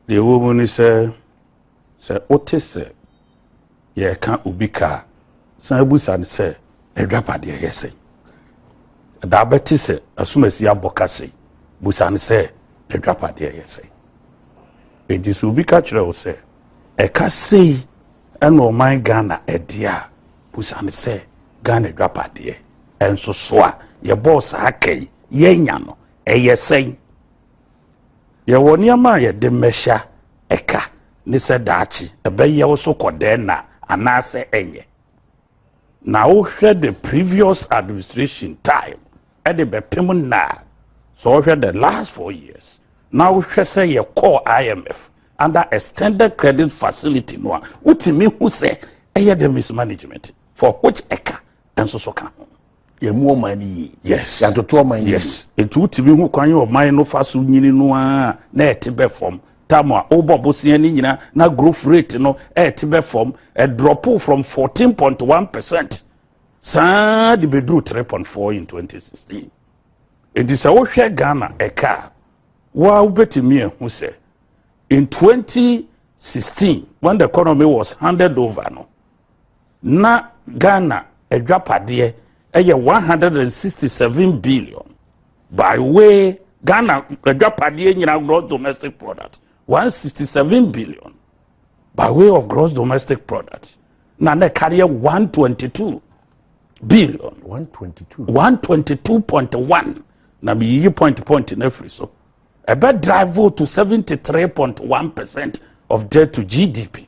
Deɛ ɛwɔ mu ne sɛ, sɛ wote sɛ yɛreka obi ka a, san busa no sɛ, n'adwapadeɛ yɛ sɛn? Ɛda abɛte sɛ asomasi abɔ ka sɛn? Busa no sɛ, n'adwapadeɛ yɛ sɛn? Enti sɛ obi ka kyerɛ wo sɛ, ɛka sei ɛna ɔman Ghana ɛdeɛ a, busa no sɛ, Ghana adwapadeɛ ɛnso so a yɛbɔɔ saa ka yi, yɛanya no, ɛyɛ sɛn? Yɛwɔ nneɛma a yɛde mmɛhyɛ ɛka ne sɛ daakye ɛbɛyɛ wo so kɔ dɛn na anaasɛ ɛnyɛ. Na wohwɛ the previous administration time ɛde bɛpem nna a, sɛ wohwɛ the last four years na wohwɛ sɛ yɛkɔɔ IMF under extended credit facility no a, wotumi hu sɛ ɛyɛ the mismanagement for which ɛka nso so ka ho. yɛmu ɔman no yie yes yɛatoto ɔman no yes nti wotumi ho kwan ɔman no fa so nyini no a na ɛte bɛ fam tam a wobɔ bosea no nyina na growth rate no ɛte bɛ fam ɛdrɔpo from 14.1 percent saa de bɛduru 3.4 in 2016 nti sɛ wohwɛ ghana ɛka a woa wobɛtumi ahu sɛ in 2016 when the economy was handed over no Na Ghana adwapadeɛ ɛyɛ 167 billion by way Ghana adwapadeɛ nyina gross domestic product 167 billion by way of gross domestic product na na ɛkareɛ 122 billion 122 122.1 na meyiyi point point no afiri so ɛbɛ drive to 73.1 percent of debt to GDP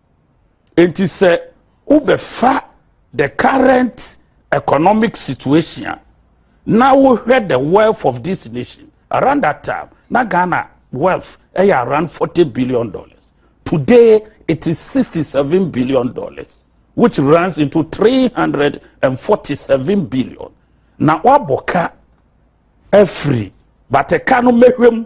Enti sɛ wobɛfa the current economic situation a na wohwɛ the wealth of this nation around that time na Ghana wealth ɛyɛ around forty billion dollars today it is sixty seven billion dollars which runs into three hundred and forty seven billion na wabɔ ka afiri but ɛka no mɛhwɛ mu.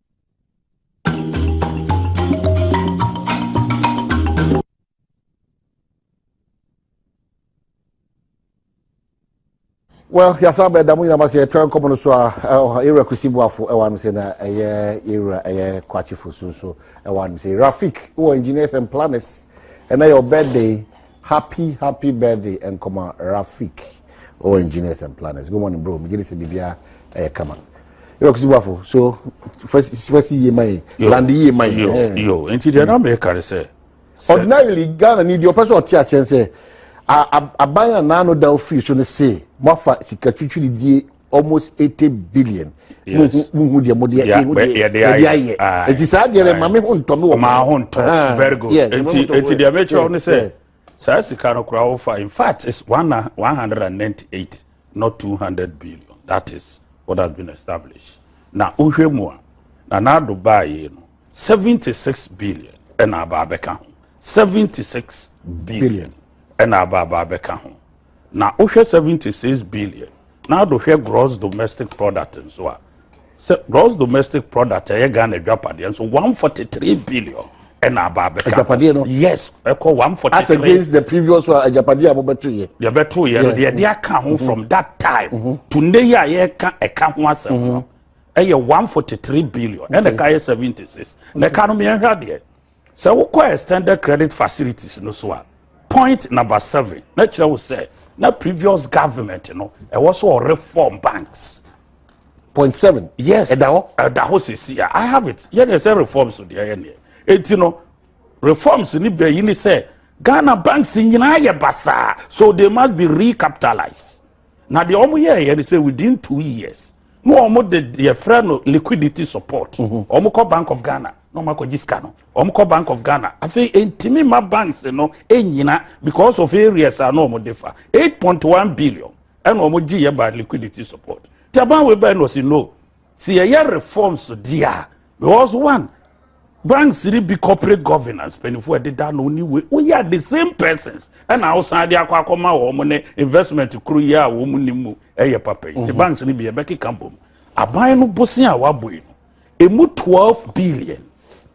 well yasa bɛ damu nyinama sɛ ɛtɔ nkɔmɔ no so a ɛwɔ ewura kusi buafo ɛwɔ anum sɛ na ɛyɛ ewura ɛyɛ kwakyifo so nso ɛwɔ anum sɛ rafik wɔ engineers and planners ɛna yɛ ɔbɛ de. Happy happy birthday nkɔma Rafik oh engineers and planners good morning bro megyere sɛ bibia ɛyɛ kama yɛ kusi bafo so fɛsi yie man land yie man yo eh. yo nti deɛ na mɛka ne sɛ ordinarily ghana ni deɛ ɔpɛ sɛ ɔte aseɛ sɛ aban a n'ano da ofiri so no se moafa sika twitwiridie almost eighty billion muhu deɛ mo deɛ ehu deɛ yɛde ayɛ eti saa deɛ dɛ maame ho ntɔ mi wɔ maa ho ntɔ ah, very good eti eti deɛ mɛkyerɛw ne sɛ saa sika no koraa wofa in fact it's one one hundred and ninety eight not two hundred billion that is what has been established na wohwɛ mu a na n'ado baayɛ no seventy six billion ɛna aba abɛka ho seventy six billion ɛna aba aba abɛka ho. Na wohwɛ seventy six billion na ado hwɛ gross domestic product nso a sɛ gross domestic product ɛyɛ Ghana adwapadeɛ nso one forty three billion ɛna aba abɛka agyapadeɛ no yes ɛkɔ one forty three as against the previous one agyapadeɛ a mobɛto yɛ deɛ bɛto yɛ no deɛ ɛde aka ho mm-hmm. from that time mm-hmm. to ne yɛ a yɛka ɛka ho asɛm no mm-hmm. ɛyɛ one forty three billion ɛna ɛka yɛ seventy six na ɛka no mmiɛnhwɛ adeɛ. Sɛ wokɔ extended credit facilities no so a, point number seven na kyerɛ wo sɛ na previous government no ɛwɔ so ɔreform banks. Point seven. Yes. Ɛda hɔ. Ɛda hɔ sisi a I have it. Yɛ deɛ sɛ reforms deɛ yɛ neɛ. Eti no reforms ni bɛ yi ni sɛ Ghana banks nyinaa yɛ basaa so they must be recapitalized. na deɛ wɔn yɛɛyɛ no sɛ within two years na wɔn de deɛ frɛ no liquidity support wɔn mm-hmm. kɔ bank of ghana na wɔn akɔgye sika no wɔn kɔ bank of ghana afei ntumi ma banks no nyina because of areas a na wɔn de fa eight point one billion ɛna wɔn gye yɛ ba liquidity support tí a ban wei bɛn na ɔsi no sɛ yɛyɛ reforms deɛ a because one banks ni bi corporate governance mpanyinfoɔ ɛdeda no ni wei woyɛ the same persons ɛna awosan de akɔ akɔma wɔn ne investment kuro yi a wɔn ni mu ɛyɛ papa yi te mhm. banks ni bi ɛbɛkeka bom aban no bosin a wabɔ yi no emu twelve billion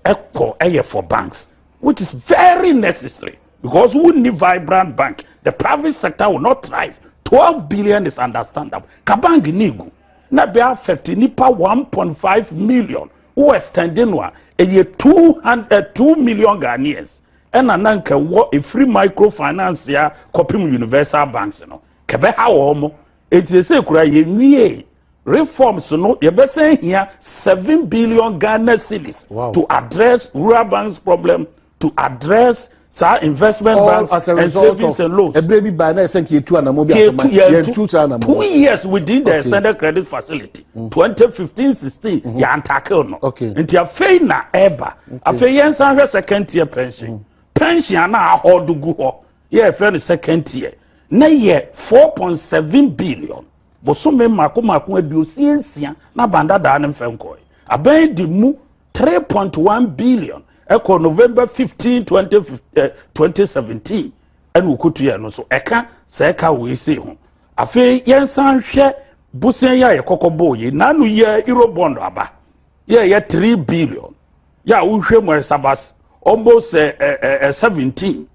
ɛkɔ ɛyɛ for banks which is very necessary because we need vibrant bank the private sector will not thrive twelve billion is understandable ka bank ni egu. na bɛ affect nipa one point five million wo extend no a ɛyɛ two hundred eh, two million ghanaians ɛna na nka wɔ efiri microfinance a kɔpem universal banks no kɛbɛ ha wɔn mo eti ese kura yɛn wie reforms no yɛbɛsɛn hia seven billion ghana cedis wow. to address rural banks problem to address saa investment All banks as a and result savings of and loans. ɛberɛ bi baa na ɛsɛ nka yɛtu anamɔ bi asɛma yɛntu saa anamɔ two years within the okay. extended credit facility mm. 2015 16 mm -hmm. yɛantakew no okay. nti afei na ɛba okay. afei yɛnsan hwɛ second tier pension mm. pension ana ahɔdo gu hɔ yɛfrɛ no second tier na yɛ 4.7 billion bosome mmaako mmaako aduosia nsia na bandadaa ne mfɛnkɔe abɛn de mu three point one billion ɛkɔ november fifteen twenty eh, twenty seventeen ɛna okotu yɛ no so ɛka sɛ ɛka wɔ ese ho afei yɛn san hwɛ bosia yi a yɛkɔkɔ bɔɔ yi nanu yɛ euro bond aba yɛ yɛ three billion yɛ a wohwɛ mu ɛsabas almost ɛ ɛ ɛ seventeen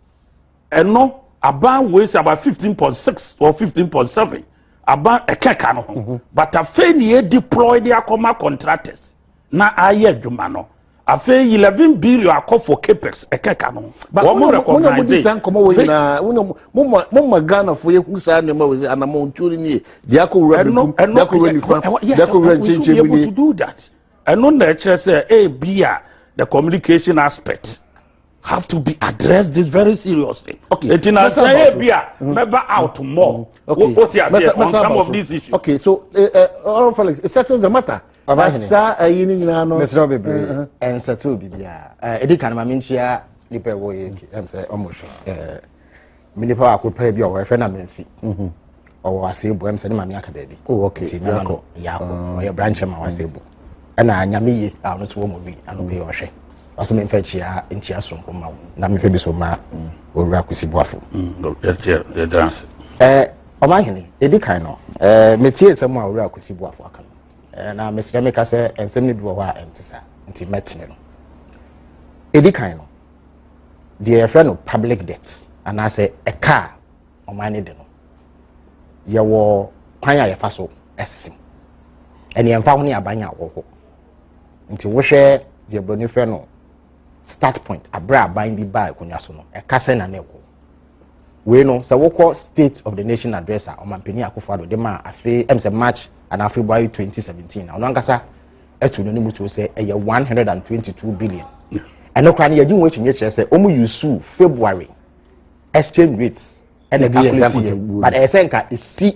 ɛno aban wei sɛ about fifteen point six or fifteen point seven aban ɛkɛka no ho mm-hmm. but afei ni yɛ deploy de akɔma contractors na ayɛ adwuma no afei eleven billion akɔ for capex ɛkɛka no wɔn mo recognize it. nkɔmɔ wɔ nyinaa mo ma ghana fo yɛ hu saa nneɛma wɔ sɛ anamɔ ntuo ni yɛ diako wura bi kum diako wura nifa diako wura nkyɛnkyɛn bi ni. ɛno na ɛkyerɛ sɛ ebia the communication aspect have to be addressed this very seriously. okay eti na sɛ ebia mɛba out more mm-hmm. o ti ase on some of these issues. okay so uh, eh, uh, eh, oral felix it settles the matter. ɔbɛhene saa ayi ni nyinaa no. mesrɛ bebree uh-huh. ɛnsɛtoo biribiara ɛdi kan ma menkyia nipa ɛwɔ yɛ ɛm sɛ ɔmo hwɛ. me nipa baako paa bi a ɔwɔ ɛfɛ na memfi mhm. ɔwɔ asebo ɛm sɛ ne maame aka baabi oh, nti mɛma no yaako ah. ɔyɛ brankyɛ ma wɔ asebo ɛna nyame ye a ɔno so wɔ mu bi ano pɛ ɔhwɛ ɔsɛ memfa kyia nkyia soronko ma wo na memfa bi so ma mm. owura kwasi boafo mm. ɔma hene ɛdi kan no metie nsɛm a owura kwasi boafo aka no na mesrɛ meka sɛ nsɛm no bi wɔ hɔ a ɛnte saa nti mɛtene no ɛdi kan no deɛ yɛfrɛ no public debt anaasɛ ɛka a ɔman no de no yɛwɔ kwan a yɛfa so ɛsese ɛne ɛmfa ho ne aban a wɔwɔ nti wohwɛ deɛ buroni frɛ no start point abere aban bi baa akonnwa so no ɛka sɛ na na ɛkɔ wei no sɛ wokɔ state of the nation address a ɔmampanin akofo ado de ma afei ɛm sɛ march anaa february 2017 na ɔno ankasa ɛto no ne mu tuo sɛ ɛyɛ 122 billion ɛno koraa no yɛgye ho akyinnye kyerɛ sɛ ɔmu yusu february exchange rates ɛna calculate yɛ but ɛyɛ sɛ nka ɛsi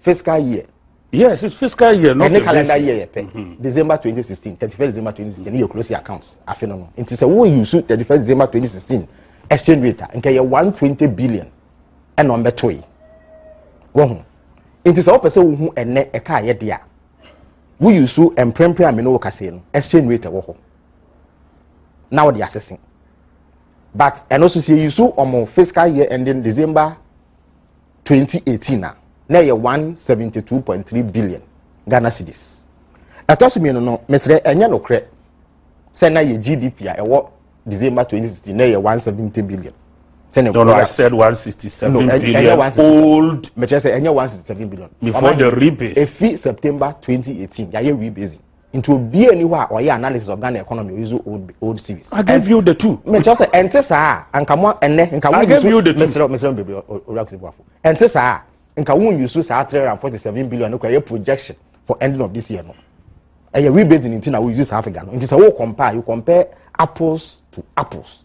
fiscal year. yes it's fiscal year not the calendar year yɛ pɛ mm-hmm. december twenty sixteen thirty first december twenty sixteen yɛ close your accounts afe no no nti sɛ wo use thirty first december twenty sixteen exchange rate a nka yɛ one twenty billion ɛna ɔn bɛ to yi wɔ ho nti sɛ wɔpɛ sɛ wohu ɛnɛ ɛka ayɛ de a wo use mprempren a mene wo kasa yi no exchange rate ɛwɔ hɔ na wɔde asese but ɛno nso sɛ yɛ use wɔn fiscal year ending december. 2018 a na ɛyɛ 172.3 billion ghana cedis ɛtɔ so mmienu no mesrɛ ɛnyɛ nokorɛ sɛ na yɛ gdp a ɛwɔ december 2016 na ɛyɛ 170 billion no, no, I said 167 no, billion old. Mekyerɛ sɛ ɛnyɛ 167 billion. Before the rebase. Efi September 2018, yɛayɛ rebasing. nti obi a ni hɔ a ɔyɛ analysis of ghana economy o use old old series. i gave you the two. mɛ kyerɛ sɛ ɛnte saa a nka mo ɛnɛ nka wo yusu mesrɛ mesrɛ mo bebree owura kusi buafo ɛnte saa a nka wo yusu saa three hundred and forty seven billion no kɔ ɛyɛ projection for ending of this year no ɛyɛ rebasing nti na wo yusu saa figure no nti sɛ wo compare you compare apples to apples.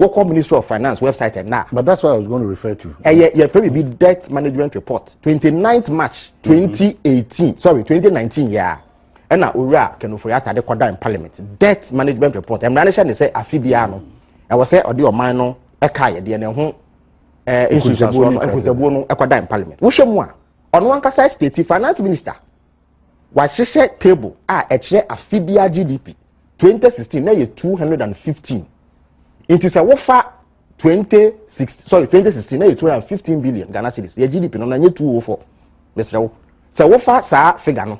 wɔkɔ ministry of finance website ɛna. but that's what i was going to refer to. ɛyɛ yɛ fɛ bi debt management report twenty ninth march mm-hmm. twenty eighteen sorry twenty nineteen yɛa ɛna owura kɛnɛfo yɛ atade kɔda in parliament debt management report ɛmira ne hyɛ ne sɛ afi biara no ɛwɔ sɛ ɔde ɔman no ɛka yɛ deɛ ne ho ɛɛ nsunsuansoɔ no nkuntabuo no ɛkɔda in parliament wohyɛ mu a ɔno ankasa state finance minister. Wɔahyehyɛ table a ɛkyerɛ afe biara GDP. 2016 na yɛ 215. Nti sɛ wofa 2016 sorry 2016 na yɛ 215 billion Ghana cedis. Yɛ GDP no na nyɛ 204. Mesrɛ wo. Sɛ wofa saa figure no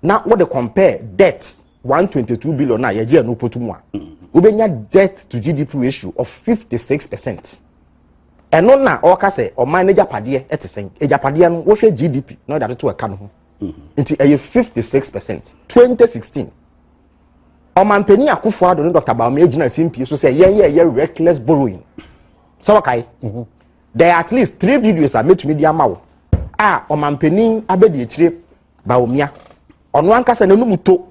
na wode compare debt 122 billion na yɛgye ɛno potu mu a, wobɛnya debt to GDP ratio of 56%. ɛno na ɔka sɛ ɔman no agyapadeɛ ɛte sɛn agyapadeɛ no wohwɛ gdp na ɔde atoto ɛka no ho mm-hmm. nti ɛyɛ fifty six percent twenty sixteen ɔmanpanin akufo ado ne dr baomia gyina simpie so sɛ yɛn yɛ yɛ reckless borrowing sɛ wɔkae mm-hmm. there are at least three videos a mɛtumi de ama wo a ɔmanpanin abɛdi akyire Bawumia, ɔno ankasa n'anum to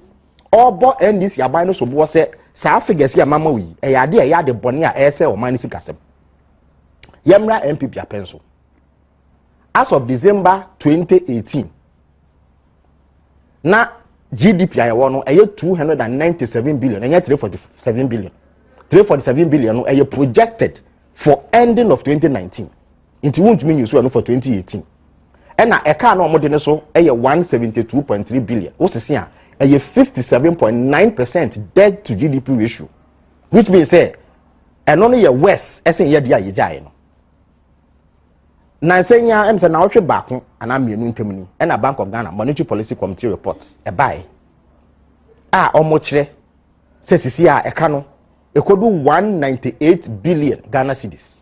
ɔrebɔ NDC aban no so boɔ sɛ saa figures yi a mama wo yi ɛyɛ adeɛ a ɛyɛ ade bɔne a ɛyɛ sɛ ɔman no sikasɛm. Yɛmmra NPP apɛn so. As of December 2018, na GDP a yɛwɔ no ɛyɛ 297 billion, ɛnyɛ 347 billion. 347 billion no ɛyɛ projected for ending of 2019. nti wontumi nyi so ɛno for 2018 ɛna ɛkaa na wɔde no so ɛyɛ 172.3 billion wosese a ɛyɛ 57.9 percent debt to gdp ratio which means sɛ ɛno no yɛ worse ɛsen yɛde a yɛgyaeɛ no nansa yi ara ɛm sɛ naawɔtwe baako anaa mmienu ntam ni ɛna bank of ghana monetary policy committee report ɛbaeɛ a wɔkyerɛ sɛ sisi a ɛka no ɛkɔdu 198 billion ghana cedis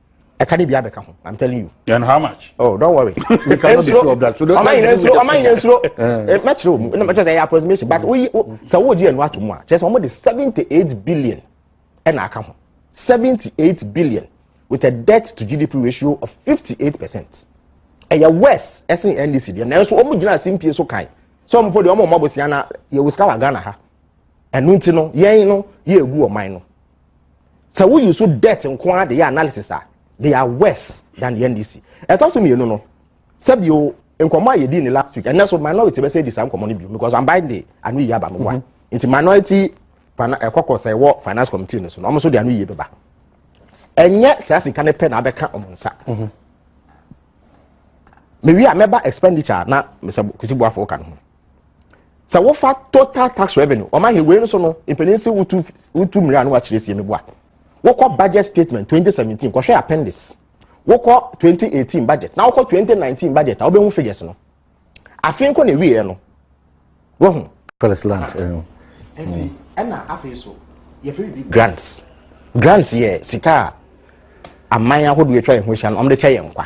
ɛka ne bi abɛka ho i'm telling you. and how much. oh don't worry. we cannot be sure of that so don't ɔman yɛn nsoro ɔman yɛn nsoro mɛkyerɛ wɔn mu ɛna mɛkyerɛ sɛ ɛyɛ approximation but woyi sɛ wɔn di ɛnu ato mu a kyerɛ sɛ wɔn de seventy eight billion ɛna aka ho seventy eight billion with a debt to gdp ratio of fifty eight percent ɛyɛ worse ɛsen ndc deɛ nanso wɔn gyina ase mpie so kan sɛ wɔn mpo deɛ wɔn mɔ bosia na yɛ wɔ sika wɔ ghana ha ɛnu nti no yɛn no yɛ egu ɔman no. sɛ woyi so debt nko ara de yɛ analysis a they are worse than the ndc ɛtɔ so mmienu no sɛbi o nkɔmɔ a yɛdi ne last week ɛnɛ so minority bɛsɛ di saa nkɔmɔ no bi because i'm buying the ano yie aba no wa mm-hmm. nti minority ɛkɔkɔ sɛ ɛwɔ finance committee no so na wɔn nso de ano yie bɛba ɛnyɛ saa sika no pɛ na abɛka wɔn nsa mm-hmm. mewi a mɛba expenditure na mesɛ kusi buafo ka no ho. sɛ wofa total tax revenue wɔn ahwɛ wei no so no mpanyin si wotu wotu mmiri ano akyerɛ sie meboa wokɔ budget statement 2017 kɔhwɛ appendix wokɔ 2018 budget na wokɔ 2019 budget a wobɛhu figures no afei nkɔ na ewieɛ no wahu. first land. nti ɛna afei so yɛfiri bi grants grants yɛ sika a aman ahodoɔ atwa yɛn ho ahyia no wɔn de kyɛ yɛn nkwa.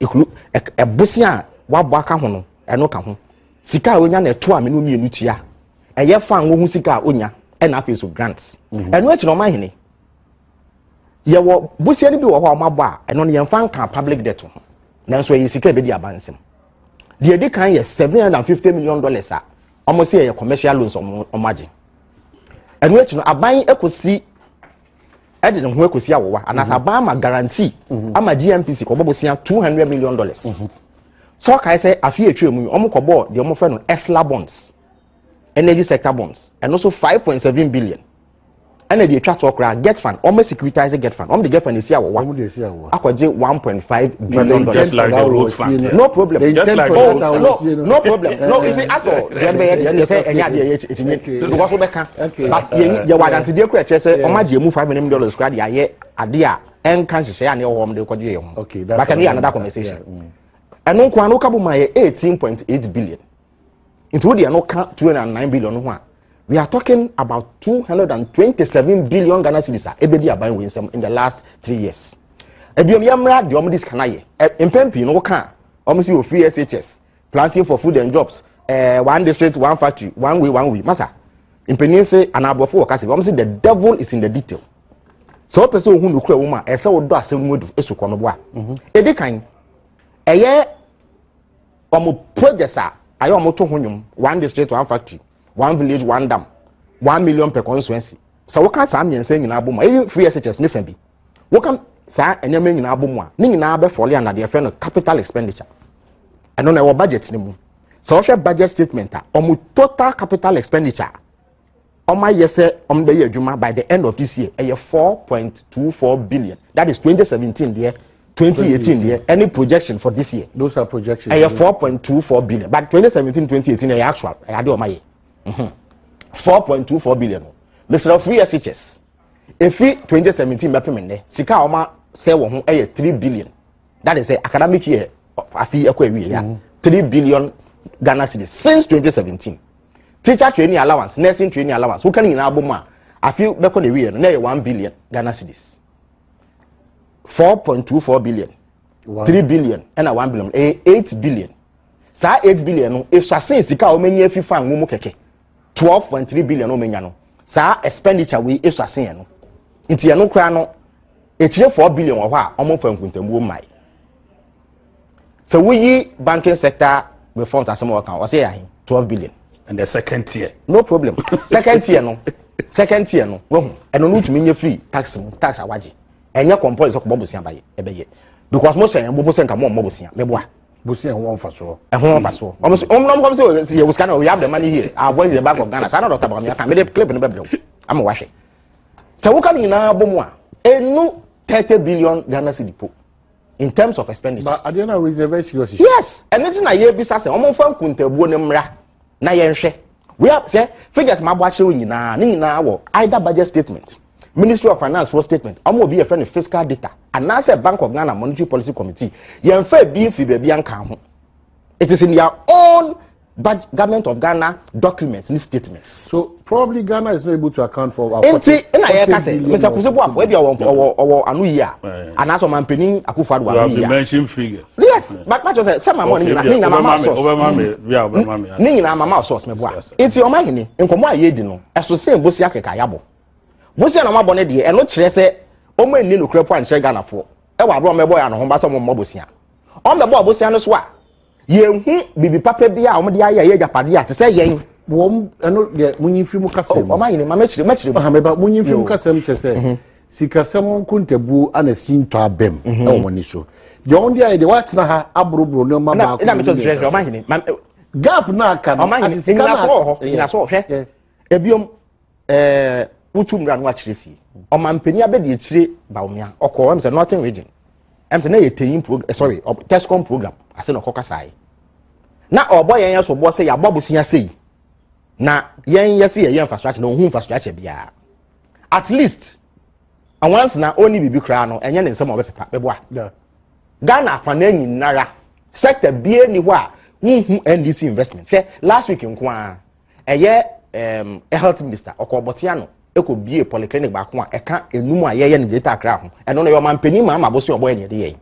Ehunu ɛbosea a wabɔ aka ho no, ɛno ka ho. Sika a onya na ɛto a mene mmienu tua. Ɛyɛ fa ngo ho sika a onya, ɛna afei so grant. Mhm. Ɛno akyi na ɔma hene. Yɛwɔ bosea no bi wɔ hɔ a wɔabɔ a, ɛno no yɛmfa nka public debt ho. Nanso ɛyɛ sika a ɛbɛdi aba nsɛm. Deɛ ɛdi kan yɛ seven hundred and fifty million dollars a wɔn sɛ ɛyɛ commercial loans wɔn agye. Ɛno akyi no aban kɔsi ɛde ne ho akɔsi awowa anaasɛ aban ama guarantee ama GNPC kɔbɔ bosea two hundred million dollars sɛ ɔkae sɛ afe a ɛtwa mu yi wɔn kɔbɔɔ deɛ wɔn fɛ no esla bonds energy sector bonds ɛno so five point seven billion ɛna deɛ ɛtwa toɔ koraa get fund wɔn securitize get fund wɔn de get fund esi awowa akɔgye one point five billion dollars. no problem. no no problem. no you see as for deɛ bɛyɛ deɛ ɛnyɛ sɛ ɛnyɛ adeɛ yɛ ɛti nye because wobɛ kan but yɛ yɛ wɔ adansideɛ kura kyerɛ sɛ ɔma gye emu five million dollars kura de ayɛ adeɛ a ɛnka nhyehyɛ a ne ɛwɔ hɔ ɔmo de kɔgye yɛ ho but ɛno yɛ another conversation ɛno nko ano kabu ma yɛ eighteen point eight billion. nti wo deɛ no ka two hundred and nine billion ho a we are talking about two hundred and twenty seven billion ghana cedis a ebedi aban wei nsɛm in the last three years ebiom yɛ mmra deɛ wɔn de sika na yɛ mpɛn pii no woka wɔn si wɔ free shs planting for food and jobs ɛɛ eh, one district one factory one way one way masa mpanyin se anaa aborɔfo wɔ kasa bi wɔn si the devil is in the detail sɛ wɔpɛ sɛ ohun nukura wɔn a ɛsɛ wɔdɔ asɛm mu esu kɔ no boa edi kan ɛyɛ wɔn projects a ayɛ wɔn to ho nnwom one district one factory one village one dam one million per constituency sɛ woka saa mmiɛnsa nyinaa bɔ mu a even free SHS ne fa bi woka saa nneɛma nyinaa bɔ mu a ne nyinaa bɛ fɔle ana deɛ fɛ no capital expenditure ɛno na ɛwɔ budget ne mu sɛ wɔhwɛ budget statement a wɔn total capital expenditure wɔn ayɛ sɛ wɔn bɛyɛ adwuma by the end of this year ɛyɛ four point two four billion that is twenty seventeen deɛ twenty eighteen deɛ any projection for this year those are projections ɛyɛ four point two four billion but twenty seventeen twenty eighteen ɛyɛ actual ɛyɛ adeɛ wɔn ayɛ mhm. four point two four billion mesrɛ free shs efi twenty seventeen bɛpem nnɛ sika a wɔn asɛ wɔn ho ɛyɛ three billion. that is sɛ academic year afi ɛkɔ awie ya mm. three billion ghana cedis since twenty seventeen teacher training allowance nursing training allowance woka ne nyinaa bɔ mu a afi bɛkɔ na awie no na ɛyɛ one billion ghana cedis four point two four billion three billion ɛna one billion ɛyɛ eight billion saa eight billion no esuasen sika a wɔn ani afi fan mu kɛkɛ. twelve point three billion na ɔmenya no saa expenditure wei esua se yɛn no nti yɛn no koraa no ekyire four billion wɔ hɔ a wɔn fa nkuntamuo mmae sɛ woyi banking sector reforms asɛm a wɔka wɔsɛ yɛ ahe twelve billion. and the second tier. no problem second tier no second tier no wahu ɛno no wotumi nye free tax mu tax awagye ɛnyɛ compulsory sɛ kɔbɔ bosia ba yɛ ɛbɛyɛ because mo hyɛ yɛn bobo sɛ nka mo ɔmmɔ bosia mɛboa. bosia ho mfasoɔ. ɛho mfasoɔ wɔn so wɔn wɔn sɛ yɛ wosika na we have the money here i avoid the bank of ghana saa na dɔkta bɔnmi aka mede clip no bɛbrɛ wo ama wahwɛ sɛ woka no nyinaa bɔ mu a ɛnu thirty billion ghana cedi po in terms of expenditure. but adeɛ na reserve serious. yes ɛne ti na yɛ bisa sɛ wɔn fa nkuntabuo ne mmra na yɛnhwɛ we have sɛ figures ma abɔ akyerɛ wo nyinaa ne nyinaa wɔ either budget statement ministry of finance for statement ɔmo obi yɛfrɛ no fiscal data anaasɛ bank of ghana monetary policy committee yɛnfa ebi mfi baabi anka ho it is in their own government of ghana documents ne statements. so probably ghana is not able to account for our forty billion nti na yɛ ka sɛ mr kusebu afɔ ebi ɔwɔ ɔwɔ ɔwɔ ano yi a anaasɛ ɔman panyin akufo ado ano yi a yes but ma kyerɛ sɛ sɛ maama ɔne nyina ne nyina mama source ne nyina mama source mɛ boa nti ɔman hene nkɔmɔ a yɛ di no ɛso sɛ bosi akeka yabɔ bosi na ɔmo abɔ ne deɛ ɛno kyerɛ sɛ ɔmo ani nokura po ankyerɛ ghana foɔ ɛwɔ abirɛ ɔmo ɛbɔ yɛ ano ho ba sɛ ɔmo mmɔ bosia ɔmo bɛbɔ bosia no so a yɛnhu biribi papa bi a wɔde ayɛ yɛ agyapadeɛ a te sɛ yɛn wɔn ɛno deɛ munyi mfiri mu kasɛm ɔma yɛ ne ma mɛkyerɛ mɛkyerɛ mu mɛba munyi mfiri mu kasɛm kyɛ sɛ mhm. sikasɛm ho nkontabuo ana si ntɔ abɛm mhm. ɛwɔ wɔn ani so deɛ wɔn de ayɛ deɛ wɔatena ha aboroboro nneɛma baako na mɛtɔ sɛ ɔma yɛ ne gap na aka no asesika na aka nyinasɔ hwɛ ebiom ɛɛ wotu mmira no akyerɛ sie ɔmampanin abɛdi akyire baomia ɔkɔ ɛm sɛ northern region ɛm sɛ na yɛ teyin program eh, sorry tescom program ase na ɔkɔ kasa yi na ɔbɔ yɛn yɛ so bɔ sɛ yɛabɔ bosia sɛ yi na yɛn yɛ se yɛyɛ infrastructure na ɔhu infrastructure biara at least awansi na ɔnni biribi koraa no ɛnyɛ ne nsɛm a ɔbɛpepa bɛboa ghana afana nyinara sector bie ni hɔ a wohu ndc investment hwɛ last week nko ara ɛyɛ um, health minister ɔkɔ ɔbɔtea no ɛkɔ bie polyclinic baako a ɛka enum a yɛyɛ no greater akra ho ɛno no yɛ ɔman panyin maa ma abosi ɔbɔ yɛ ne yɛde yɛ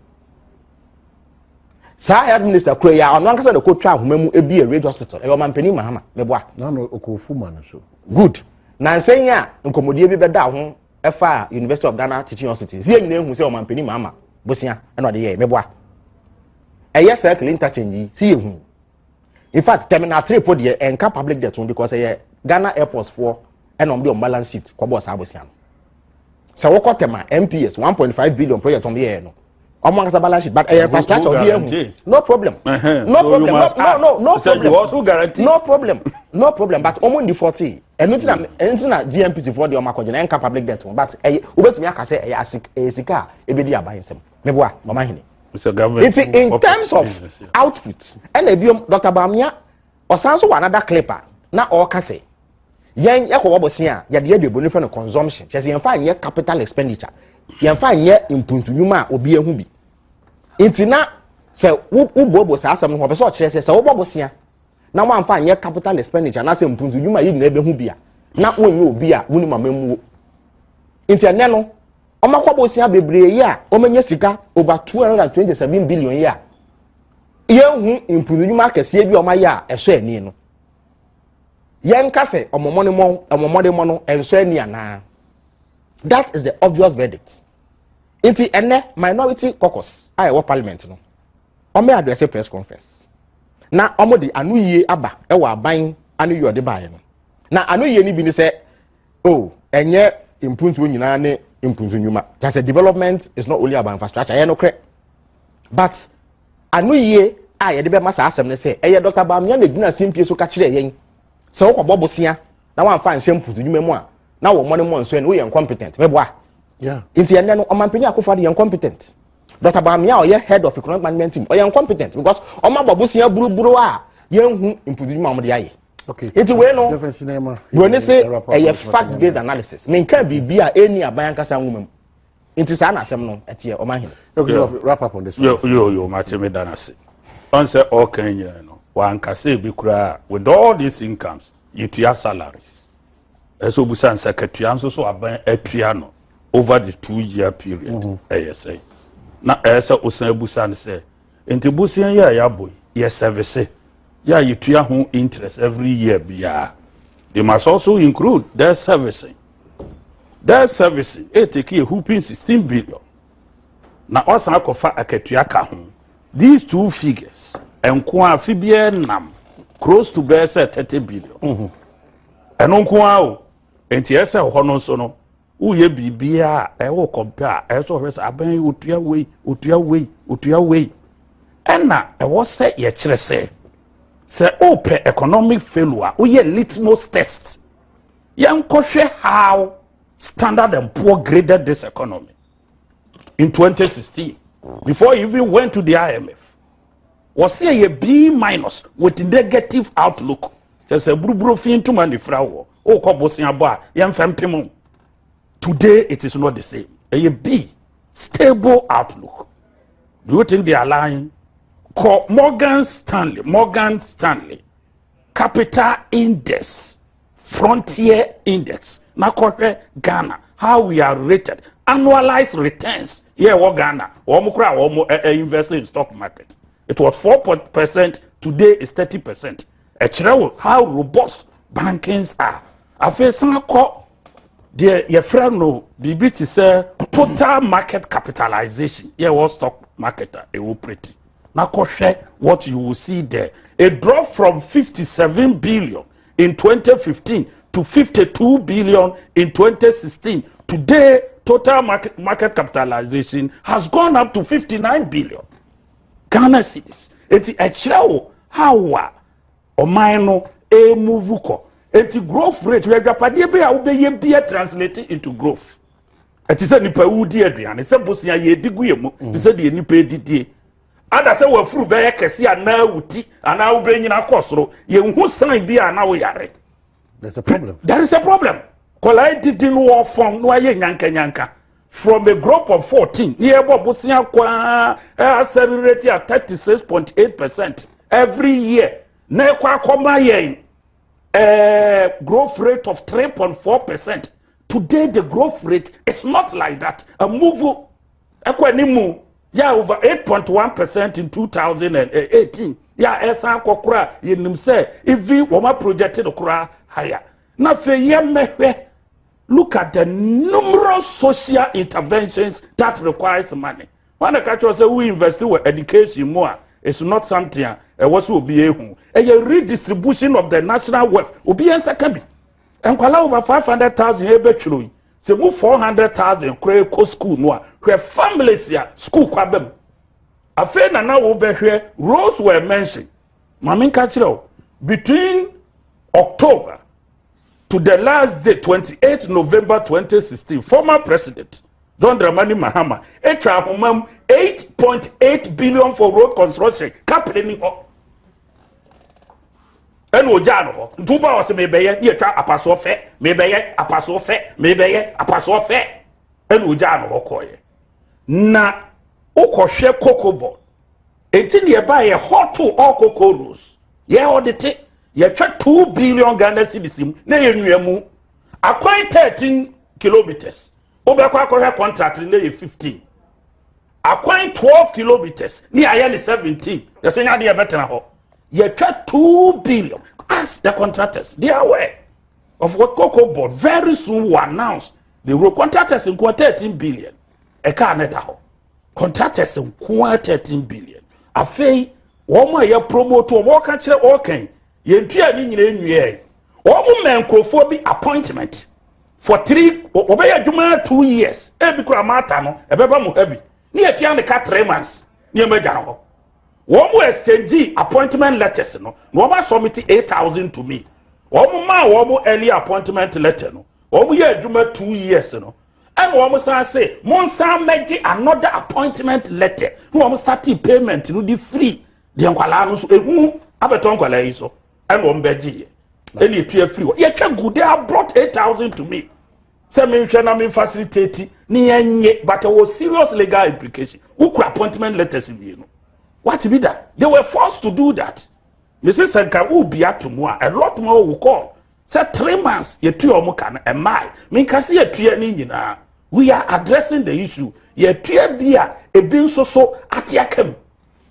saa health minister kura yi a ɔno ankasa na ɔkɔtwa ahoma mu ebi yɛ radio hospital ɛyɛ ɔman panyin mahama meboa. nanu okofu ma no so. good na nsɛn yi a nkɔmɔdie bi bɛda ho ɛfa university of ghana teaching hospital si enyina ehu sɛ ɔman panyin mahama bosia ɛna ɔde yɛ meboa ɛyɛ circle interchange yi si yɛ hu in fact terminal three po deɛ ɛnka public debt ho because ɛyɛ ghana airports foɔ ɛna wɔn de wɔn balance sheet kɔbɔ saa abosia no sɛ wɔkɔ tɛma mps one point five billion project wɔn yɛɛ no ọmọ ankasa balance sheet but ẹyẹ infrastructure ọbi ehu no problem no problem no no no problem no problem no problem but ọmọ ndi forty ẹnu ti na ẹnu ti na GNPC fọ di ọmọ akọjẹ na ẹnka public debt but ẹyẹ obetumi akasẹ ẹyẹ asika a ebedi aban nsẹm meboa mama hene nti in terms of output ɛna ebiom dr bamia ɔsan so wɔ another clip a na ɔreka sɛ yɛn yɛkɔ wɔ bɔsen a yɛde yɛ de eboni fɛ no consumption kyɛ sɛ yɛn fa nyɛ capital expenditure yɛn fa nyɛ mpuntunyuma a obi ehu bi nti na sɛ wo wo buobuo saa asɛm no ho ɔpɛ sɛ ɔkyerɛ sɛ sɛ wobɔ bɔsen na wɔn anfa nyɛ capital expenditure anaasɛ mpuntunyuma yɛ nyinaa ebehu bi a na wɔnyɛ obi a wɔn mu ama mu nti ɛnɛ no. wɔn akɔ abosea bebree yi a wɔn anya sika over two hundred and twenty seven billion yi a yɛnhu mpunudwuma akɛseɛ bi a wɔn ayɛ a ɛsɔ ani no yɛnka sɛ wɔn mmɔdemmɔ wɔn mmɔdemmɔ no ɛnsɔ ani anaa that is the obvious verdict nti ɛnɛ minority caucus a ɛwɔ parliament no wɔn yɛ address press conference na wɔn de ano yie aba ɛwɔ aban ano yie ɔde baeɛ no na ano yie no bi ne sɛ. oh ɛnyɛ mpuntuo nyinaa ne mpuntu nnwuma kyɛ sɛ development is not only about infrastructure ɛyɛ nokorɛ but ano yie a yɛde bɛma saa asɛm no sɛ ɛyɛ dr bamia na gyina simpie so ka kyerɛ yɛn sɛ wokɔbɔ bosea na wamfa nhyɛ mpuntu nnwuma mu a na wɔ mmɔ ne mmɔ nso ɛne woyɛ incompetent mɛboa nti ɛnɛ no ɔmampanin akofo ade yɛ incompetent dr bamia ɔyɛ head of economic management team ɔyɛ incompetent because ɔma bɔ bosea buruburo a yɛnhu mpuntu nnwuma a wɔde ayɛ okay nti wei no buroni se ɛyɛ fact based analysis menka biribi a ɛni aban ankasa nwoma mu nti saa na asɛm no ɛteɛ ɔma hene yɛyɛyɛmatwe me da no ase ɔn sɛ ɔka nyina no wankasa bi koraa with all these incomes yɛtua salaries ɛsɛ obusa nsa katua nso so aban atua no over the two year period ɛyɛ sɛ na ɛyɛ sɛ osan abusa no sɛ Nti bosea yi a yɛabɔ yi yɛ sɛvese yi a yɛtua ho interest every year biara. They must also include their servicing. Their servicing ɛtake a whooping 16 billion na ɔsan akɔfa akatua ka ho. These two figures nko a fi biara nam close to bɛyɛ sɛ 30 billion. Mm-hmm. Ɛno nko a o nti ɛsɛ hɔ no nso no woyɛ biribiara a ɛwɔ kɔmpɛ a ɛsɛ ɔhwɛ sɛ abɛn yi otua wei otua wei otua wei ɛna ɛwɔ sɛ yɛkyerɛ sɛ sɛ ɔpɛ economic failure woyɛ litmus test yɛnkɔhwɛ how standard and poor graded this economy in 2016 before he even went to the imf wɔsɛ yɛ b minus with negative outlook kyɛ sɛ buruburo fi ntoma ne fira wɔ o kɔ bosia bɔ a yɛn fɛn pem o today it is not the same ɛyɛ bi stable outlook do you think they are lying kɔ morgan stanley morgan stanley capital index frontier index na kɔhwɛ ghana how we are rated annualized returns yɛ ɛwɔ ghana wɔn kora wɔn ɛ eh, ɛ eh, invest in stock market it was four percent today is thirty percent. ɛkyerɛ wo how robust bankings are afei san kɔ deɛ yɛfrɛ no biribi te sɛ total market capitalization yɛ wɔ stock market a ɛwɔ preti na kɔhwɛ what you will see there a drop from 57 billion in 2015 to 52 billion in 2016 today total market, market capitalization has gone up to 59 billion Ghana cedis. Eti ɛkyerɛ wo how a ɔman no ɛremuvu kɔ. Eti growth rate, adwapadeɛ bi a wobɛyɛ bi translate into growth. Ɛte sɛ nipa wudi aduane, sɛ bosia yɛdi gu yɛ mu, te sɛ deɛ nipa didie. Ada sɛ wafuru bɛyɛ kɛse anaa wuti anaa wobɛnyina kɔ soro, yɛnhu sign bi a na woyare. There's a problem. There is a problem. Kɔlaa didi no wɔfɔm no ayɛ nyankanyanka. from a group of fourteen ní ẹ bọ bosea kwaa ẹ accelerate at thirty six point eight percent every year na ẹ kọ akọma yẹn ẹ growth rate of three point four percent today the growth rate is not like that a move ẹ kọ ẹni mu yà over eight point one percent in two thousand and eighteen yà ẹ san akọ kora yẹn nim sẹ even wọn project no kora higher na fẹ yẹ mẹhwẹ. look at the numerous social interventions that requires money wọn na kakyɛ sɛ wo invest wɔ education mu a it's not something a ɛwɔ so obi ehu ɛyɛ redistribution of the national wealth obi yɛn nsa ka bi nkwalaa over five hundred thousand ebetwere yi sɛ mu four hundred thousand kora ekɔ school no a hwɛ families a school kɔ abam afei na na wo bɛhwɛ roles were mentioned. Ma me nka kyerɛ o between October to the last day 28 November 2016 former president John Dramani Mahama etwa ahoma mu 8.8 billion for road construction kapere ni hɔ ɛna ogyaa no hɔ nti woba wɔ sɛ mebɛyɛ ne yɛtwa apasoɔ fɛ mebɛyɛ apasoɔ fɛ mebɛyɛ apasoɔ fɛ ɛna ogyaa no hɔ kɔɔyɛ na wokɔhwɛ kokobɔ Enti ne yɛbae yɛhɔ too ɔɔkɔ Coros. Yɛɛ ɔdete, yɛtwa two billion Ghana cedis mu na yɛnwia mu. Akwan thirteen kilometres, wobɛkɔ akɔhwɛ contract no na ɛyɛ fifteen. Akwan twelve kilometres ne yɛayɛ ne seventeen. Yɛsɛ nya de yɛbɛtena hɔ. Yɛtwa two billion. Ask the contractors, they are aware of what Cocoa Board very soon will announce. They will contractors nkoa thirteen billion. Ɛkaa ne da hɔ. contractors nko ara thirteen billion afei wɔn a yɛ promote wɔn wɔka kyerɛ wɔkan yɛn tua ne nyinaa nwiɛ wɔn mɛ nkurɔfoɔ bi appointment for three wɔbɛyɛ adwuma two years ebi kura maata no ɛbɛba mu ha bi ne yɛ tua ne ka three months ne yɛ mɛ gya no hɔ wɔn mo ɛsɛngyi appointment letters no na wɔn asɔmiti eight thousand to me wɔn maa wɔn early appointment letter no wɔn yɛ adwuma two years no. ɛna wɔn san se mo nsan mmɛgye another appointment letter na wɔn starting payment no de free deɛ nkwadaa no so ehu abɛtɔ nkwadaa yi so ɛna wɔn bɛgye yɛ ɛna etu afiri hɔ yɛtwa gu they have brought eight thousand to me sɛ mi nhwɛ na mi facilitate ne yɛn nye but ɛwɔ serious legal implication wokura appointment letters mmienu wati bi da they were forced to do that mesi sɛ nka wubia to mu a a lot more will call sɛ three months yɛtua wɔn ka no ɛmaae menka sɛ yɛtua ne nyinaa we are addressing the issue yɛtua bi a ebi nso so ate aka mu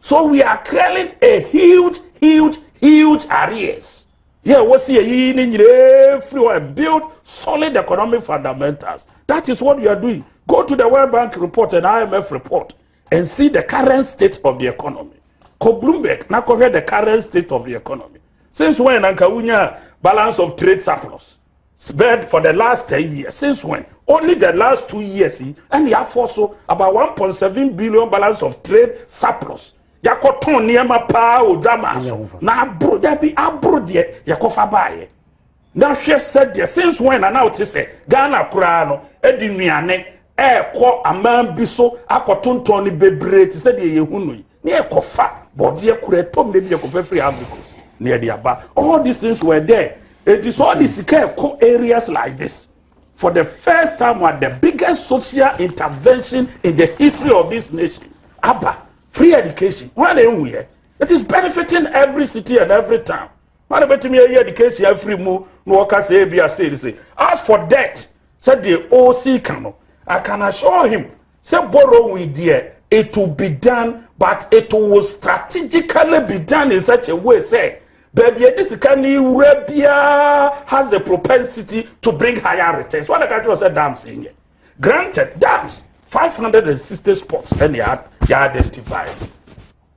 so we are clearing a huge huge huge arrears yɛ wɔsi yɛyi ne nyinaa firi hɔ and build solid economic fundamentals that is what we are doing go to the world bank report and imf report and see the current state of the economy kɔ bloomberg na kɔhwɛ the current state of the economy since when na nka wonya balance of trade surplus bed for the last ten years since when only the last two years yi ɛna yɛafɔ so about one point seven billion balance of trade surplus yɛakɔtɔn nneɛma paa odwa maa so na aboro dabi aboro deɛ yɛkɔfa baayɛ. Na hwɛ sɛdeɛ since when na na wote sɛ Ghana koraa no de nnuane ɛrekɔ aman bi so akɔtontɔn no bebree te sɛ deɛ yɛhu no yi na yɛkɔfa bɔdeɛ kora ɛtɔm na bi yɛkɔfa firi Ivory Coast na yɛde aba all these things were there eti sɛ ɔde sika ɛkɔ areas like this for the first time at the biggest social intervention in the history of this nation aba free education wɔn na ehu yɛ it is benefiting every city and every town. ana bɛtumi ayi education afiri mu na wɔka sɛ ebi ase de se as for debt sɛdeɛ ɔresi ka no i can assure him sɛ borrowing deɛ it will be done but it will strategically be done in such a way sɛ baabi yɛde sika ne wura biara has the propensity to bring higher returns wɔn adaka kyerɛ sɛ dams yɛ granted dams five hundred and sixty spots ɛna yɛ identify.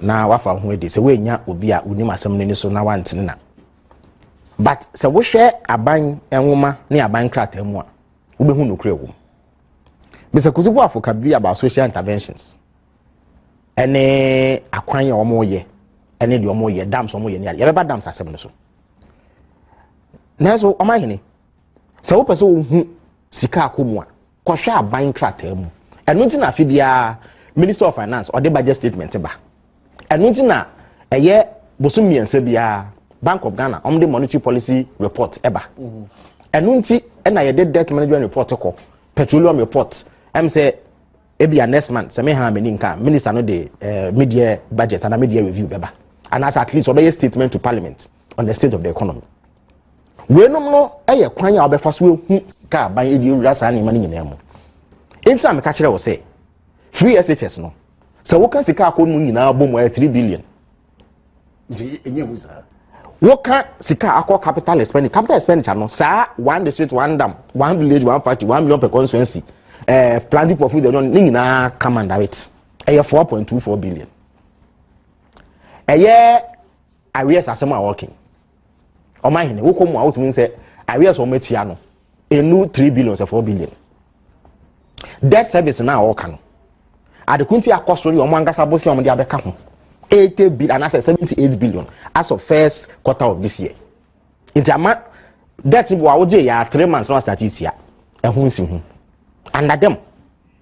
na wafa wo ho adi sɛ woannya obi a wonim asɛm no ani so na wantene na but sɛ wohwɛ aban nwoma ne aban krataa mu a wobɛhu nokorɛ wɔ mu mr kusi boafo ka bi about social interventions ɛne akwan a wɔyɛ ɛne deɛ wɔyɛ dams wɔyɛ ne ade yɛbɛba dams asɛm no so nanso ɔma hene sɛ wopɛ sɛ wohu sika akɔ mu a kɔhwɛ aban krataa mu ɛno nti na afe biara minister of finance ɔde budget statement ba ɛno nti na ɛyɛ bosom mmiɛnsa biara bank of ghana ɔmde monetary policy report ɛba ɛno nti ɛna yɛde debt management report kɔ petroleum report ɛm sɛ ebia next month sɛ meha m'ani nka minister no de eh, media budget ana media review bɛba anaasɛ at least ɔbɛyɛ statement to parliament on the state of the economy weinom no yɛ kwan a wobɛfa so ehu sika aban de awura saa nneɛma no nyinaa mu nti na meka kyerɛ wo sɛ free shs no sɛ woka sika akɔ mu nyinaa bɔ mu ayɛ three billion woka sika akɔ capital expenditure capital expenditure no saa one district one dam one village one factory one million per constituency ɛɛ eh, planting for food ɛdɔn ne nyinaa come under it ɛyɛ four point two four billion ɛyɛ awiɛ sasɛm a wɔkin. ɔmo ahene wokɔ mu a wotumi nsɛ areɛ sɛ ɔmo atua no enu three billion sɛ four billion debt service na ɔɔka no adeko nti akɔ so yɛ ɔmo ankasa bo sɛ ɔmo de abɛka ho eighty billion anaasɛ seventy eight billion as of first quarter of this year nti ama debt bi wɔ a wogye yɛ a three months na wasate tua ɛho nsi ho under them.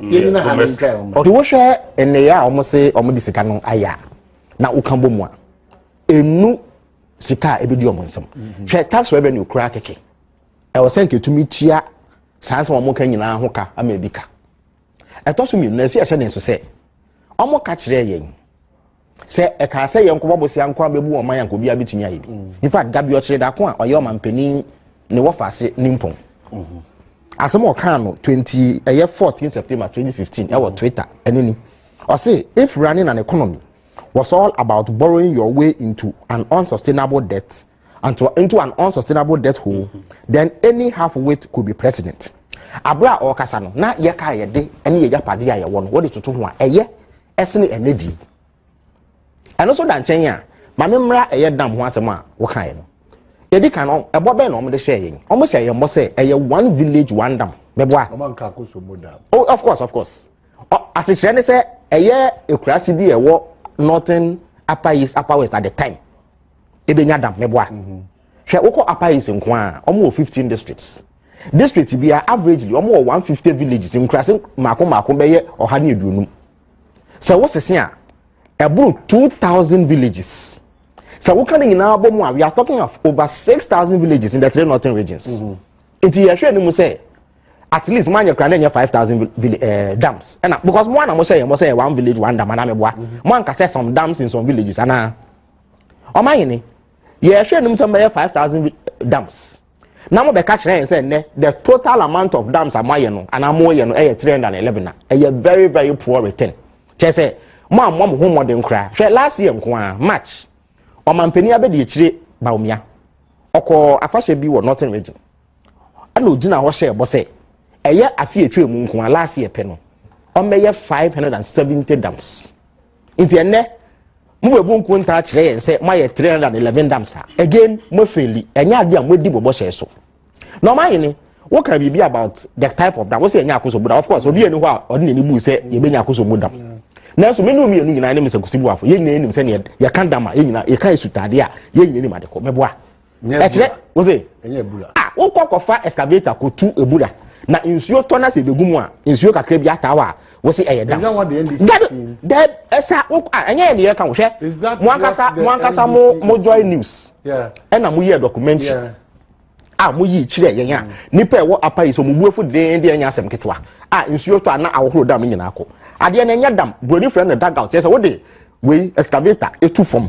yɛnyina ha no ntwa wɔn nti wohwɛ nneyɛ a wɔn se wɔn de sika no ayɛ a na woka bɔ mu a enu sika a ebedi wɔn nsam mhm. hwɛ tax revenue kura kɛkɛ ɛwɔ sɛ nketumi tua saa nsɛm wɔn ka nyinaa ho ka ama ebi ka ɛtɔ so mmienu na esi ɛhyɛ ne nso sɛ wɔn ka kyerɛ yɛn. sɛ ɛkaa sɛ yɛn nkɔbɔ bosia nko abɛbu wɔn man anka obiara bɛtumi ayɛ bi in fact da bi ɔkyerɛ dako a ɔyɛ ɔmampanin ne wɔfa ase ne mpɔn asɛm ɔkaa no 20 ɛyɛ 14 september 2015 ɛwɔ twitter ɛno ni ɔse if running an economy was all about borrowing your way into an unsustainable debt and to, into an unsustainable debt hole then any half wit could be president abere a ɔrekasa no na yɛka yɛde ne yɛgya pade a yɛwɔ no wɔde toto ho a ɛyɛ ɛsene ɛnɛ di ɛno nso da nkyɛn a maame mmra ɛyɛ dam ho asɛm a wokaeɛ no yɛdi kan no ɛbɔ bɛn na wɔde hyɛɛ yɛn wɔn hyɛ yɛn bɔ sɛ ɛyɛ one village one dam mɛboa oh of course of course asekyerɛ ne sɛ ɛyɛ ekuraase bi a ɛwɔ northern upper east upper west at the time ebenya dam mɛboa. Mm -hmm. Hwɛ wokɔ Upper East nko a, wɔn wɔ fifteen districts. District biara averagely wɔn wɔ one fifty villages nkurase mako mako bɛyɛ ɔha ne aduonum. Sɛ wosese a, ɛboro two thousand villages. Sɛ woka ne nyinaa bɔ mu a, we are talking of over six thousand villages in the three northern regions. Mm -hmm. Nti yɛhwɛ ne mu sɛ at least mo anyɛ kura na ɛnyɛ five thousand ɛɛ eh, dams ɛna because mo ana mo sɛ yɛ mo sɛ yɛ one village one dam ana mi boa mo anka sɛ some dams in some villages ana ɔmo ayɛ ne. yɛhwɛ anim sɛ mɛyɛ five thousand dams na mo bɛka kyerɛ yɛn sɛ nnɛ the total amount of dams a mo ayɛ no anaa mo yɛ no ɛyɛ three hundred and eleven a ɛyɛ very very poor return kyɛ sɛ mo a mo mo ho mmɔden koraa hwɛ last year nko ara march ɔmanpanin abɛdi akyire baomia ɔkɔɔ afahyɛ bi wɔ northern region ɛna ogyina hɔ hyɛ ɛbɔ sɛ ɛyɛ afi atwa mu nko ara last year pɛ no ɔmmɛyɛ five hundred and seventy dams. nti ɛnɛ mobɛbu nko ntaa kyerɛ yɛn sɛ moayɛ 311 dam saa again moafeli ɛnyɛ adeɛ a moadi mo bɔhyɛ so na ɔmahene woka biribi about the type of dam wo sɛ ɛnyɛ akoso mu dam of course obi ɛni hɔ a ɔde n'ani bu sɛ yɛbɛnya akoso mu dam nanso me ne wo mmienu nyinaa ne mesɛ nkosi buafo yɛn nyinaa nim sɛneɛ yɛka dam a yɛn nyinaa yɛka asutadeɛ a yɛn nyinaa nim adekɔ mɛboa ɛkyerɛ wose a wokɔ kɔfa excavator kɔtu ebura na nsuo tɔ na sɛ ebegu mu a nsuo kakra bi ataa hɔ a wose ɛyɛ dam dɛ ɛsa ɛnyɛ yɛ deɛ ɛka wo hwɛ mo ankasa mo ankasa mo mo joy news ɛna mo yɛ documentary a mo yi kyerɛ yɛn a nipa ɛwɔ apa yi so mo buafo den deɛ ɛnyɛ asɛm ketewa a nsuo tɔ a na ahohoro dam nyinaa kɔ adeɛ na ɛnyɛ dam buroni fira na dugout yɛ sɛ wode wei excavator etu fam.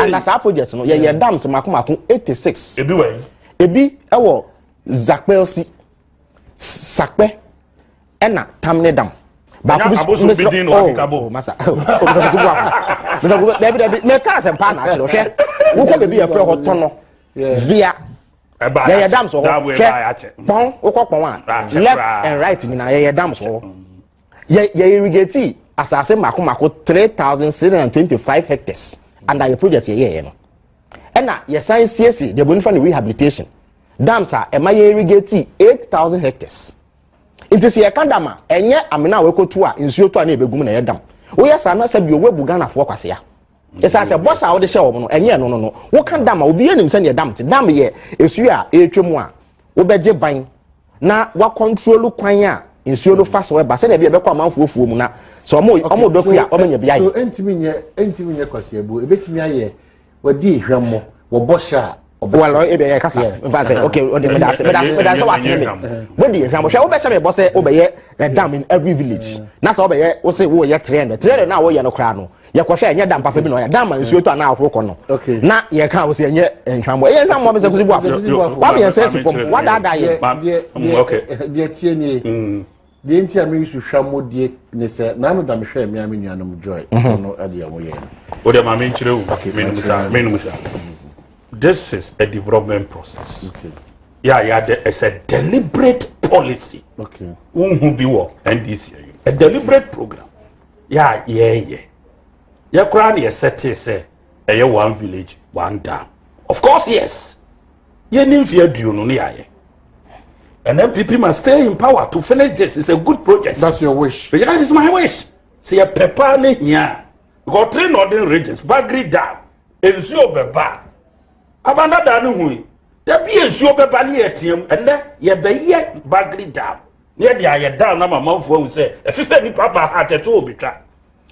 ana saa project no yɛyɛ dams mako mako eighty six ebi wɔ yi ebi ɛwɔ zakpɛlsi sakpɛ ɛna tamne dam baako bi abosu bi din na wakeka bɔ masa kɔmpiuta bu ako masa kɔmpiuta dɛbi dɛbi mɛ kaa sɛ mpaa na akyerɛ hwɛ wokɔ beebi yɛ fɛ hɔ tɔnɔ via yɛyɛ dams wɔ hɔ hwɛ pɔn wokɔ pɔn a left and right nyinaa yɛyɛ dams wɔ hɔ. yɛ yɛ irrigate asase mako mako three thousand six hundred and twenty five hectares under yɛ project yɛ yɛyɛ no ɛna yɛsan siesie deɛ bonifa no rehabilitation dams a ɛma yɛ irrigate eight thousand hectares nti sɛ yɛka dam a ɛnyɛ amena a wɔkɔtu a nsuo tɔ a na ɛbɛgum na ɛyɛ dam woyɛ saa na sɛ bi ɔwɔ bu ghanafoɔ kwasea ɛsɛ sɛ bɔhyɛ a wode hyɛ wɔn no ɛnyɛ ɛno no no woka dam a obi anim sɛdeɛ dam te dam yɛ esuo a ɛretwa mu a wobɛgye ban na wakɔntrolu kwan a nsuo no fa so ɛba sɛdeɛ bi ɛbɛkɔ amanfoɔ fuo mu na sɛ ɔmo ɔmo dɔ kua ɔmo nya bi ayɛ. so ntumi nyɛ ntumi nyɛ kwasiabuo ebetumi ayɛ wɔde ehwɛmɔ wɔbɔ hyɛ a well ɔyɛ bɛ yɛ kasa nfa sɛ ok ɔdi mi daase mi daase mi daase wa tiri mi wo di ehwɛ abɔhwɛ wo bɛ sɛ mi bɔ sɛ wo bɛ yɛ ɛdam in every village na sɛ wo bɛ yɛ wo se wo yɛ three hundred three hundred na wo yɛ no koraa no yɛ kɔ hwɛ ɛnyɛ dam papa bi na ɔyɛ dam ma nsuo tɔ a na ahoro kɔ no na yɛ kan wo se ɛnyɛ nhwamɔ ɛyɛ nhwamɔ mi sɛ kusi bu afɔ wa mi yɛ sɛ si fam wa daadaa yɛ. deɛ deɛ deɛ tie nie. deɛ nti a meyi so hwɛ mo deɛ ne sɛ naa meda me hwɛ mmea me nuanom joy mhm. no deɛ mo yɛ no. o deɛ maame nkyerɛ o menum sa menum sa this is a development process yà yà dɛ it's a deliberate policy wohu bi wɔ ndc a deliberate program yà yɛɛyɛ yɛ koraa na yɛ sɛ tee sɛ ɛyɛ one village one dam of course yes. yɛni mfe aduonu ne yɛayɛ and npp must stay in power to finish this it's a good project. that's your wish. yeah that is my wish. sɛ yɛ pɛ paa ne hia because three northern regions bagri dam nsuo bɛba abandada ne hui dabi nsuo bɛba ne yɛ team ɛnɛ yɛ bɛyɛ bagri dam ne yɛ de ayɛ dam na ma amanfoɔ ahu sɛ ɛfifɛ nipa ba ha atɛtɛ wɔ betwa.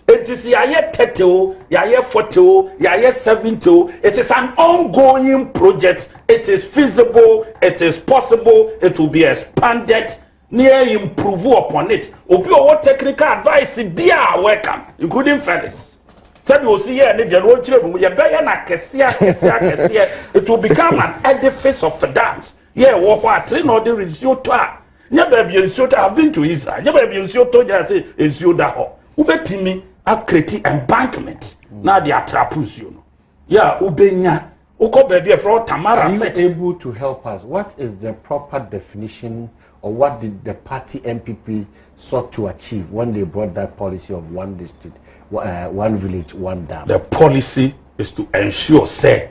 It is yɛayɛ thirty o yɛayɛ forty o yɛayɛ seventy o it is an ongoing project it is feasible it is possible it will be expanded ne yɛ improve upon it obi ɔwɔ technical advice bi a welcome including Felix sɛdeɛ osi yɛ ne deɛ no ɔnkyerɛ mu yɛbɛyɛ no akɛseɛ akɛseɛ akɛseɛ it will become an edifice of dams Yeah, wɔ hɔ a tere na ɔde nsuo tɔ a nyɛ baabi a nsuo tɔ have been to Israel nyɛ baabi a nsuo tɔ gyina sɛ nsuo da hɔ wobɛtumi akreti embankment na de atrapo nsuo no yɛ a wobɛnya wokɔ baabi a ɛfrɛ Tamara set. Are you able to help us what is the proper definition or what did the party NPP sought to achieve when they brought that policy of one district uh, one village one dam. The policy is to ensure say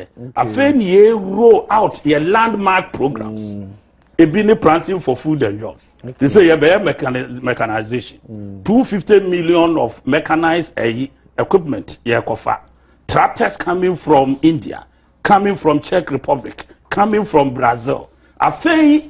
afei ne yɛ roll out yɛ landmark programs mm. ebi ne planting for food and jobs te sɛ yɛbɛyɛ mechanization mm. two fifty million of mechanized ɛyi eh, equipment yɛkɔfa tractors coming from india coming from czech republic coming from brazil afei